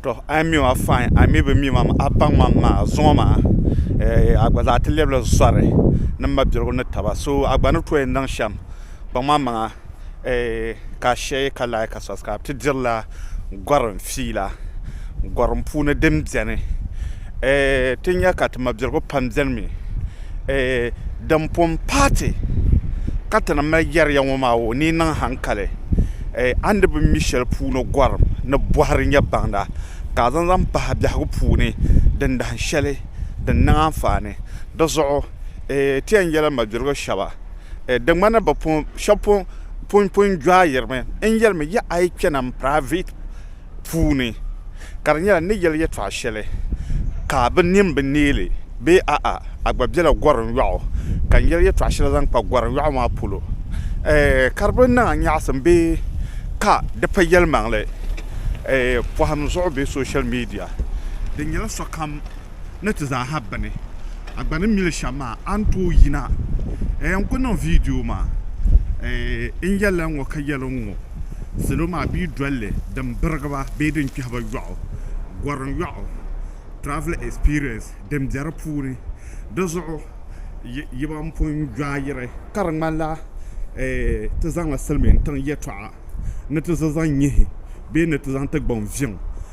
Tɔ! A ni mi ma fain, a mi bi mi ma, a baŋ ma m-ma zuŋɔ maa, eh, a gba zaa ti lɛbila zɔri ni m mabiligu ni taba, so a gba ni tooi niŋ shɛm baŋ ma maŋa, eh, ka a shee ka lahi ka sɔsi ka bɛ ti dirila gɔrim fiila gɔrim puuni din beni, eh, ti nya ka ti mabiligu pam benimi. Din pun paati ka ti ni mali yɛri ya ŋɔ maa o ni niŋ haŋkali a ni bi mi shɛli puuni gɔrim ni bɔhiri nyɛ baŋda ka a zaŋ zaŋ pahi biɛhigu puuni din dahin shɛli din niŋ anfaani di zuɣu ti yɛn yɛli mabirigu shɛba di ŋmani shɛba pun pun jɔayirimi n yɛlimi yi a yi kpɛna m-piraaivɛti puuni ka di nyɛla ni ni yɛli yɛtɔɣ shɛli ka bɛ nini bi neei bee a'a a gba bela gɔrim yɔɣu ka n yɛli yɛtɔɣ shɛli zaŋ kpa gɔrim yɔɣu maa polo ɛɛh ka di bi niŋ a nyaɣisim bee ka di pa yɛlimaŋli ɛɛh pɔhim zuɣu bee soshal miidiya di nyɛla sokam ni ti zaa ha bini a gba ni mi li shɛm maa a ni tooi yina ɛɛh n-kuli niŋ viidiyo maa ɛɛh n yɛli la n-ŋɔ ka yɛli n-ŋɔ. Salo maa pii dolli din birigi ba bee din kpɛhi ba yɔɣu gorim yɔɣu travel experience din be di puuni di zuɣu yi ban pun gbaayiri ka di ŋmanila ti zaŋla silimiintiŋ yɛtɔɣa ni ti zaŋ nyihi bee ni ti zaŋ ti gbaŋ viɛŋ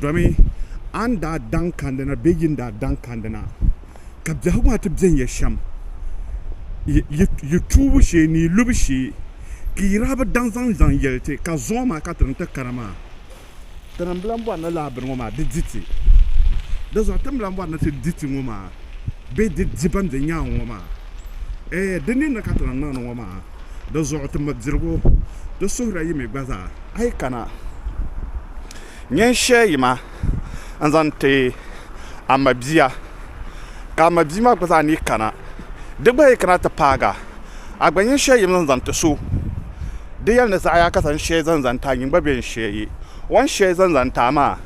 Domin a ni daa daŋ kand na bee yi ni daa daŋ kand na, ka biɛhigu maa ti beni ya shɛm, yi, yi tuubu shee ni yi lubu shee, ka yi daa bi daŋ zaŋ zaŋ yɛli ti, ka zuŋɔ maa ka ti ni ti kana maa. Tirimbila m-bɔri ni lala bini ŋɔ maa di di ti. Dinzuɣu tirimbila m-bɔri ni ti di ti ŋɔ maa, bee di di ban be nyaaŋa ŋɔ maa. Ɛɛ, di ninni ka ti lahi niŋdi ŋɔ maa. di zuɣu ti mi dirigu di suhiri yi mi gba zaa. A yi kana nyin shee yi ma n-zaŋ ti a mabia, ka a mabia maa gba zaa ni kana, di gba yi kana ti paag a, a gba nyin shee yim zaŋ zaŋ ti so, di yɛli ni zaɣ ya ka zaŋ shee zaŋ zaŋ ti a, nyin gba bee n-shee yi. O ni shee zaŋ zaŋ ti a maa,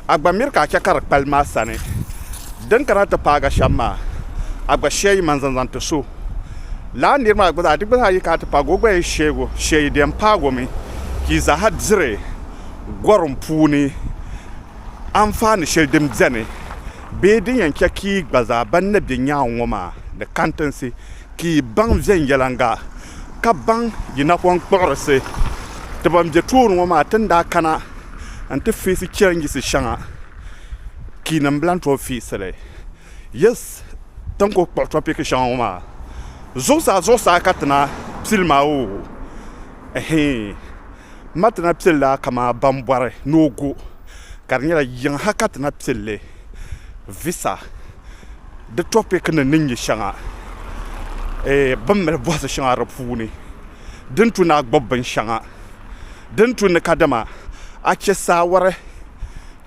a gba miri ka a chɛ ka di kpalim a sani. Din kana ti paag a shɛm maa, a gba shee yi man zaŋ zaŋ ti so. Lala nir maa gba zaa, di gba zaa yi ka a ti paag o, o gba yi sheeg o, shee yi di yɛn paag o mi ka yi zaaha diri gɔrim puuni anfaani shɛli din beni bee din yɛn chɛ ka yi gba zaa ban na be nyaaŋ ŋɔ maa ni kantinsi ka yi baŋ viɛnyɛliŋga ka baŋ yi napɔnkpuɣirisi ti ban be tooni ŋɔ maa ti ni daa kana n-ti feesi chɛlinjisi shɛŋa kiinima bɛ lan tooi feesi li. Yes, ti ni kul kpuɣi tɔpiki shɛŋa ŋɔ maa, zuɣusaa zuɣusaa ka ti na pili maa oo, ɛhii, m ma ti na pili la kaman ban bɔri ni o gu, ka di nyɛla yiŋa ha ka ti na pili li, visa. di topik nim ni nyɛ shɛŋa bi ni mali bɔhisi shɛŋa di puuni di ni tu ni a gbubi binshɛŋa di ni tu ni kadama a chɛ saawari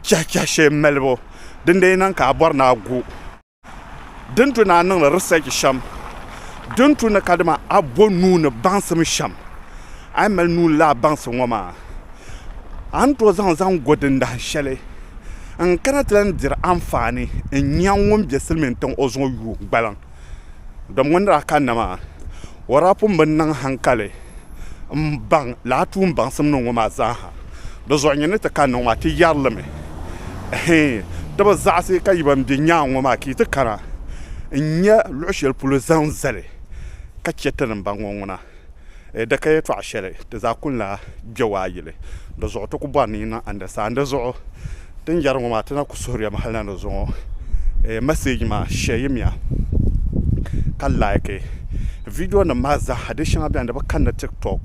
chɛhichɛhi shɛli malibu din di yi niŋ ka a bɔri ni a gu di ni tu ni a niŋdi risɛch shɛm di ni tu ni kadama a bo nuu ni baŋsim shɛm A yi mali nuu lahi baŋsi ŋɔ maa, a ni tooi zaŋ zaŋ go dindahin shɛli n kana ti lan diri anfaani n-nya ŋun be silimiin tiŋ o zuŋɔ yuui gbaliŋ. Domi ŋɔ ni daa kanna maa, o daa pun bi niŋ haŋkali m-baŋ lala tuun baŋsim niŋ ŋɔ maa zaa ha. Di zuɣu nyin ni ti kanni ŋɔ maa, ti yɛri li mi, Hii, ti bi zaɣisi ka yi ban be nyaaŋa ŋɔ maa ka yi ti kana n-nya luɣ shɛli polo zaŋ zali ka chɛ ti ni baŋ ŋɔ ŋuna. E daka yɛtɔɣ shɛli ti zaa kul lahi gbiɛgu a yili, di zuɣu ti ku bɔri ni yi niŋ andasa. N di zuɣu ti ni yɛri ŋɔ maa, ti na ku suhiri ya mi hal na ni zuŋɔ e mɛsɛji maa shɛ yim ya ka laiki vidiyonim maa zaaha. Di shɛŋa beni di bi kanna Tiktok,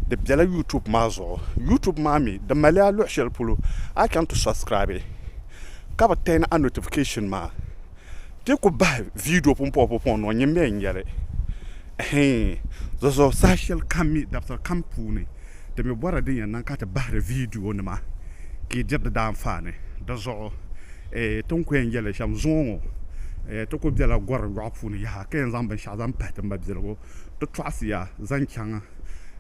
di bela YouTube maa zuɣu. YouTube maa mi di mali a luɣ shɛli polo a chaŋ ti sɔbsikiraabi ka bi tɛni a notifikashin maa. Ti ku bahi viidiyo pumpɔŋpumpɔŋ nɔŋ nyin bɛn yɛli, Ɛhɛin! Zɔzɔɔ saha shɛli kam mi dabisili kam puuni, di mi bɔrila din yɛn niŋ ka ti bahiri viidiyonima ka yi diri di daanfaani. Di zuɣu eh, ti ni ku yɛn yɛli shɛm zuŋɔ ŋɔ eh, ti ku bela gɔri yɔɣu puuni yaha ka yɛn zaŋ binshɛɣu zaŋ pahi ti mabiligu. Ti tɔɣisiya zaŋ chaŋ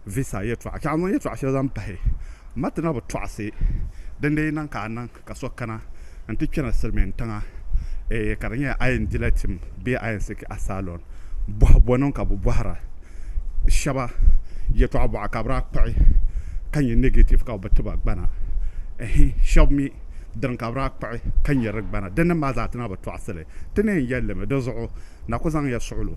Visa yɛtɔɣa, chaŋ zaŋ yɛtɔɣa shɛli zaŋ pahi ma ti na bi tɔɣisi. Dindee yi niŋ ka a niŋ. Ka so kana n-ti kpɛna Silimiin tiŋa eeh ka di nyɛla a yɛn dila tim bee a yɛn siki asylum bɔhi bɔniŋ ka bɛ bɔhira shɛba yɛtɔɣa bɔɣa ka bɛ daa kpuɣi ka nyɛ negative ka bɛ bi ti ba gbana eeh shɛba mi dini ka bɛ daa kpuɣi ka nyɛ di gbana dindini maa zaa ti na bi tɔɣisi li ti ni yɛn yɛli li mi di zuɣu na ku zaŋ ya suɣilo.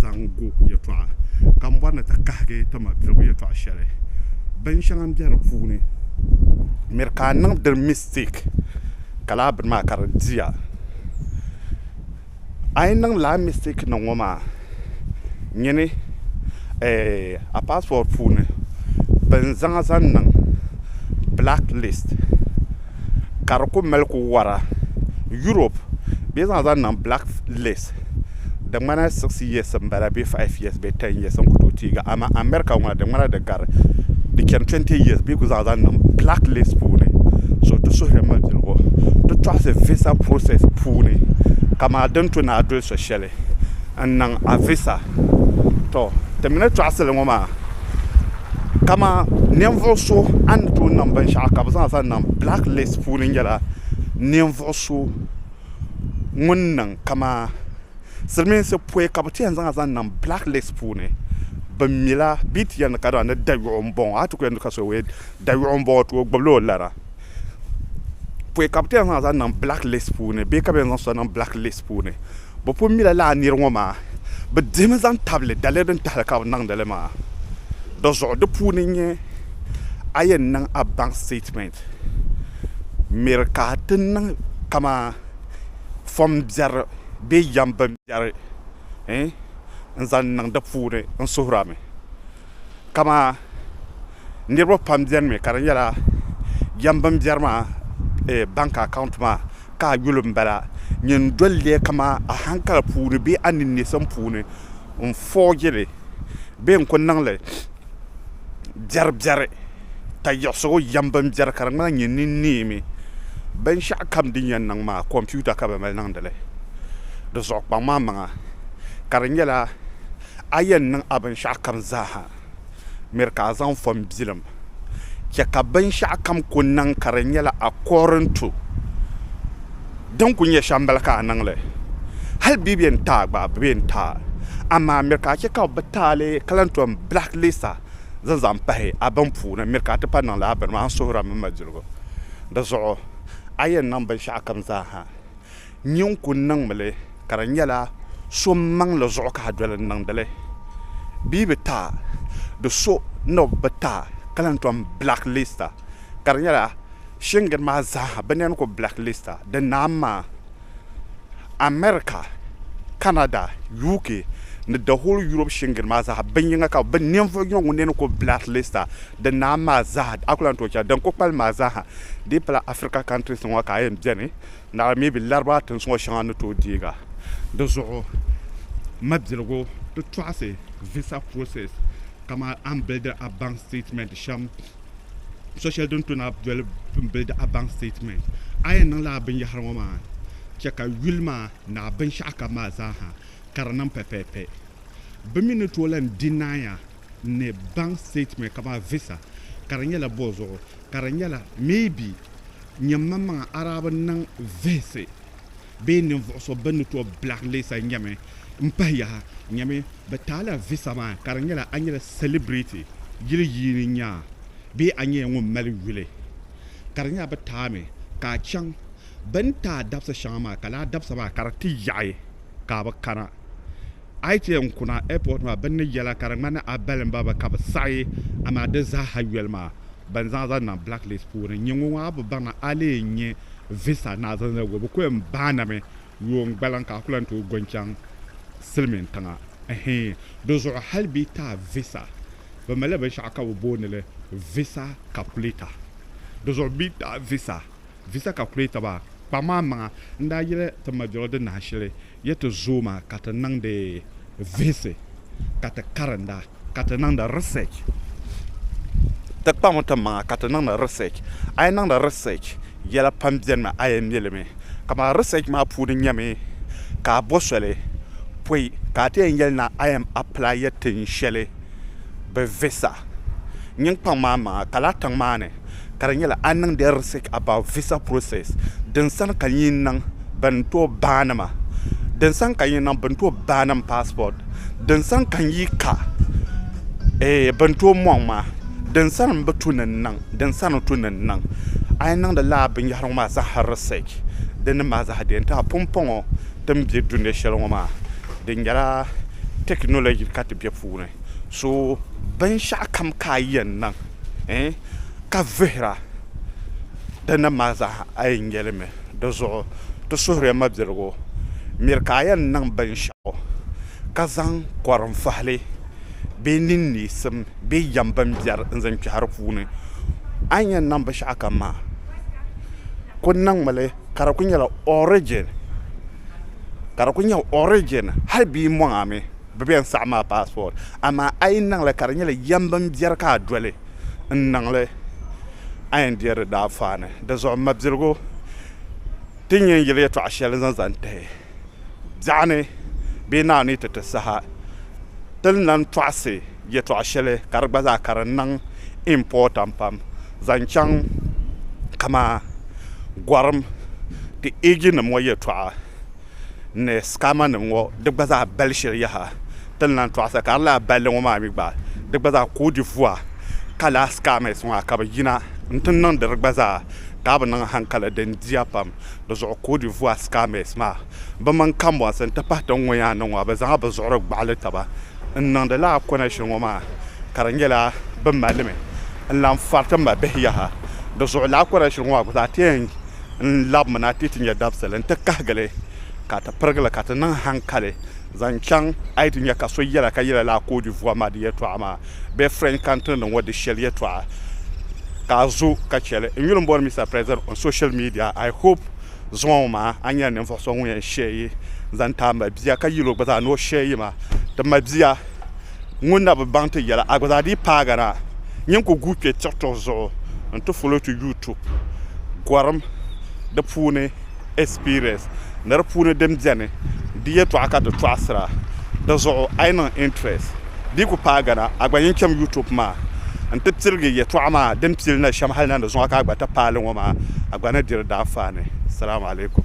zaŋ gu yɛltɔɣa ka n bɔri ni ti kahigi ti ma piligu yɛltɔɣa shɛli bin shɛŋa n bɛ di puuni n miri ka a niŋdi mistɛk ka laa bini maa ka di diya a yi niŋ laa mistɛk nim ŋɔ maa nyini a paaswɔɔd puuni bin zaŋa zaŋ niŋ bilak liis ka di ku mali ku wara yuurop bee zaŋ zaŋ niŋ bilak liis di ŋmana six years n bala bee five years bee ten years n ku tooi teegi amaa America ŋɔ na di ŋmana di gari di chani twenty years bee ku zaŋ zaŋ niŋ black list puuni so di suhiri mabiligu di tɔɣisi visa process puuni kaman din ti naai doli so shɛli n niŋ a visa to ti mi ni tɔɣisili ŋɔ maa kaman ninvuɣu so a ni tooi niŋ binshɛɣu ka bɛ zaŋ zaŋ niŋ black list puuni nyɛla ninvuɣu so ŋun niŋ kamaa silimiinsi pɔi ka bɛ ti yɛn zaŋ a zaŋ niŋ black list puuni bɛ mi la bɛ yi ti yɛli ni ka dama ni dayuɣu m-bɔŋɔ a ti ku yɛli ni ka so wee dayuɣu m-bɔŋɔ ti o gbubi la o lara pɔi ka bɛ ti yɛn zaŋ a zaŋ niŋ black list puuni bee ka bɛ yɛn zaŋ so niŋ black list puuni bɛ pun mi la lala niri ŋɔ maa bɛ dihi mi zaŋ tabili daliya din tahili ka bɛ niŋdi li maa di zuɣu di puuni n-nyɛ a yɛn niŋ a baŋ statement. Miri ka ti niŋ kamani fom biɛri bee yɛm bimbiɛri n-zaŋ niŋ di puuni n-suhir a mi. Kamani niriba pam beni mi ka di nyɛla yɛm bimbiɛri maa bank account maa ka a yuli m-bala. Nyin doli li kamani a hankali puuni bee a ninneesim puuni n-forgi li bee n-ku niŋ li. biɛri biɛri ka yiɣisigu yɛm bin biɛri ka di ŋmanila nyɛ ni neemi binshɛɣu kam din yɛn niŋ maa kompiuta ka bi mali niŋdili di zuɣu kpaŋ maa maŋa ka di nyɛla a yɛn niŋ a binshaɣu kam zaaha miri ka a zaŋ fon bilim chɛ ka binshaɣu kam ku niŋ ka di nyɛla akɔɔrin tu Din ku nyɛ shɛm m-bala ka a niŋ li. Hali bɛ yɛn taai gba bɛ yɛn taai, amaa miri ka a chɛ ka bɛ taai li ka lan tom blacklist a zaŋ zaŋ pahi a bini puuni, miri ka a ti pa niŋ lala bini maa, n suhir a mini malidiliko. Di zuɣu a yɛn niŋ binshɛɣukam zaa ha nyin ku niŋ mi li ka di nyɛla so maŋli zuɣu ka a doli n-niŋdi li. Bɛ yi bi taai di so ni o bi taai ka lan tom blacklist a ka di nyɛla Shingir maa zaaha bɛ nɛn ku blacklista di naam maa. America, Canada, UK ni the whole Europe shingir maa zaaha bin yiŋa ka bɛ ninvuɣ yiŋa ŋun nɛn ku blacklista di naam maa zaaha a ku lan tooi chɛ din ku kpalim maa zaaha dii pala Africa countries ŋɔ ka a yɛn beni naɣila maybe Larabawa tinsi ŋɔ shɛŋa ni tooi deeg a. Di zuɣu mabiligu ti tɔɣisi visa process kaman a ni bildi a bank statement shɛm. so shɛli din tuna doli m-bili di a bank statement a yɛn niŋla a binyɛhiri ŋɔ maa chɛ ka yuli maa ni a binshɛɣu kam maa zaa ha ka di niŋ pɛpɛɛpɛ bɛ mi ni tooi lan di naai a ni bank statement kamani visa ka di nyɛla bo zuɣu ka di nyɛla maybe nyɛ maŋmaŋa arabi niŋ vihisi bee ninvuɣu so bɛ ni tooi bilahi leesa nyɛmi m pahi yaha nyɛmi bɛ taala visa maa ka di nyɛla a nyɛla celebrity yili yiini nyaa bee a nyɛla ŋun mali yuli ka di nyɛla bɛ taami ka a chaŋ bɛ ni taai dabisa shɛŋa maa ka laa dabisa maa ka di ti yaɣi ka a bi kana A yi chɛ n-kuna airport maa bɛ ni yɛla ka di ŋmani a balimba bi ka bi saɣi a maa di zaaha yoli maa bɛn zaŋ zaŋ niŋ blacklist puuni. Nyɛ ŋɔ ŋɔ a bi baŋ a lee nyɛ visa ni a zaŋ zali o bi ku yɛn baanimi yuun gbaliŋ ka a ku lan tooi go n-chaŋ silimiin tiŋa hii. Di zuɣu hali bɛ yi ti a visa bɛ malila binshɛɣu ka bɛ booni li visa calculator di zuɣu bɛ yi ti a visa Visa calculator ba kpa maa maŋa n daa yili ti majoro di nahi shili ya ti zooi maa ka ti niŋdi vihisi ka ti karinda ka ti niŋdi research ti kpa ŋɔ ti maŋa ka ti niŋdi research a yi niŋdi research yɛla pam beni mi a yɛn mili mi ka maa research maa puuni nyɛmi ka a bo soli pɔi ka a ti yɛn yɛli na a yɛn apply ya tin shɛli bi visa nyiŋ kpaŋ maa maŋa ka lahi tiŋ maa ni ka di nyɛla a niŋdi research about visa process din sani ka nyin niŋ bɛn tooi baani ma din sani ka nyin niŋ bɛn tooi baani m passport din sani ka n yi ka eeh bɛn tooi mɔŋ ma din sani m bi tu ni n niŋ din sani tu ni n niŋ a yi niŋdi lala binyɛhiri ŋɔ maa zaa research di ni mali zaɣ deei n tɛha pumpɔŋɔ ti ni be dunia shɛli ŋɔ maa di nyɛla technology ka ti be puuni so binshɛɣukam ka a yɛn niŋ ka vihira di nim maa zaa a yi nya li mi di zuɣu ti suhiri ya mabiligu miri ka a yɛn niŋ binshɛɣu ka zaŋ kɔrim fahili bee ninneesim bee yɛm bin biɛri n zaŋ kpɛhi di puuni a ni yɛn niŋ binshɛɣu kam maa ku niŋmi li ka di ku nyɛla origin ka di ku nyɛ origin hali bee maŋa mi bɛ bɛn saɣim a passport amaa a yi niŋli ka di nyɛla yɛm binbiɛri ka a doli n-niŋli a yɛn deei di daanfaani. Di zuɣu mabiligu ti nyɛ n-yili yɛtɔɣ shɛli n-zaŋ zaŋ tihi biɛɣu ni bee Naawuni ni ti ti saha ti ni lan tɔɣisi yɛtɔɣ shɛli ka di gba zaa ka di niŋ important pam zaŋ chaŋ kaman gɔrim ti eejinim ŋɔ yɛtɔɣa. ni scammer nim ŋɔ di gba zaa bali shili yaha ti ni lan tɔɣi sa ka di laa balli ŋɔ maa mi gba di gba zaa koodi vua ka laa scammers ŋɔ ka bi yina n ti niŋdi di gba zaa ka a bi niŋ hankali di n diya pam di zuɣu koodi vua scammers maa bi mini kambɔnsi n ti pahi tin ŋɔ yaa niŋ ŋɔ bi zaŋla bi zuɣuri gbaɣili taba n niŋdi laa connection ŋɔ maa ka di nyɛla bi mali mi n lan fariti ma bihi yaha di zuɣu laa connection ŋɔ maa gba zaa ti yɛn n labimi na ti ti nya dabisili nti kahigili ka ti pirigili ka ti niŋ hankali zaŋ chaŋ a yi ti nya ka so yɛla ka yɛla lala Côte d'Ivoire maa di yɛltɔɣa maa bee French country nim ŋɔ di shɛli yɛltɔɣa ka a zo ka chɛli n yuli m bɔri Mister President on social media I hope zuŋɔ ŋɔ maa a nyɛla ninvuɣu so ŋun yɛn share yi zaŋ ti a ma bia ka yɛl o gba zaa ni o share yi ma ti ma bia ŋun na bi baŋ ti yɛla, a gba zaa dii paagi na. Nyin ku guui kpe tiɣitiɣ zuɣu nti follow to YouTube gɔrim di puuni experience ni di puuni din beni di yɛtɔɣa ka ti tɔɣisira di zuɣu. A yi niŋ interest dii ku paagi na, a gba nyin cham YouTube maa nti pirigi yɛtɔɣa maa din pili na shɛm hali na ni zuŋɔ ka a gba ti paali ŋɔ maa a gba ni diri daanfaani. Salaam alaikum.